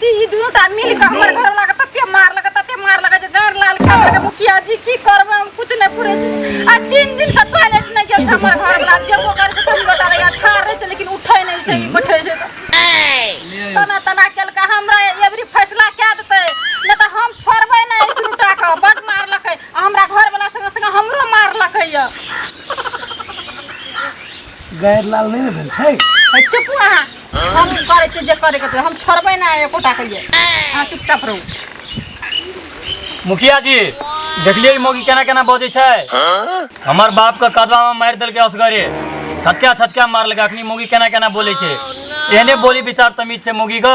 ती ई दुनू टा मिल के हमर घर लगा तते मार लगा तते मार लगा जे गार लाल खा लगा मुखिया जी की करबे हम कुछ नहीं पूरे छी आ तीन दिन से टॉयलेट नहीं गेल छै हमर घर लगा जेबो करे छै तुम लोटा रहिया खा रहे छै लेकिन उठै नहीं छै ई बैठे छै तऽ। तना तना केलका हमरा एवरी फैसला कए देतै नहि तऽ हम छोड़बै नहि ई दुनू टा के बड मारलकै आ हमरा घरवला संगे संगे हमरो मारलकै यऽ गैर लाल नहीं ने भेल छै ए, चुप अहाँ हम करे छी जे करे के तो हम छोड़बे ना एकोटा के ये अहाँ चुपचाप रहू मुखिया जी देखलिए ई मौगी केना केना बजै छै हमर बाप के कदवा में मारि देलकै असगरे छटका छटका मारलकै अखनी मौगी केना केना बोलै छै एहने बोली विचार तमीज छै मौगी के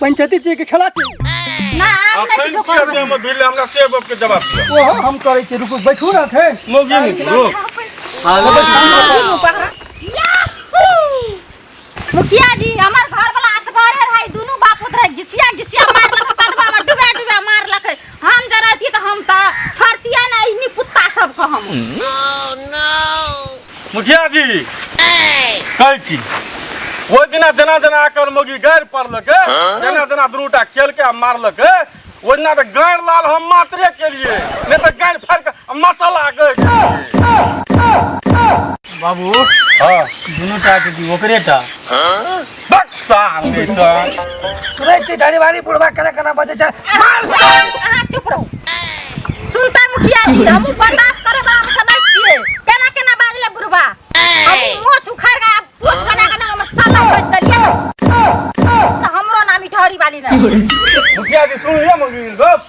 पंचायती जी के खेला छी ना आप नहीं कुछ कर दे हम बिल हमरा से बाप के जवाब दिया ओ हो, हम करे छी रुकू बैठू ना थे मोगी मुखरो मुखिया जी हमार घर वाला असगर है भाई दोनों बाप पुत्र है घिसिया घिसिया मार लक कदवा में डुबा डुबा मार लक हम जरती तऽ हम तऽ छोड़तियै ने एहनी कुत्ता सबके हम मुखिया जी कहै छी ओहि दिना जेना जेना एकर मौगी गाड़ि पड़लकै जेना जेना दुनूटा केलकै आ मारलकै ओहि दिना तऽ गाड़ि लाल हम मात्रे केलियै नहि तऽ गाड़ि फाड़ि कऽ आ मसाला गए बाबू हँ दुनू टा के ओकरे टा बक साल दे तो सुनै छी ढारी वाली बुढ़वा केना केना बजे छै मार साल अहाँ चुप रहू सुनता मुखिया जी हम बर्दाश्त करे वाला हम समझ छिए केना केना बाजले बुढ़वा हम मोछ उखाड़ के पोछ बना के ना हम साला खोज दलिए तो हमरो नाम इठहरी वाली ना मुखिया जी सुन लिया मुखिया जी सब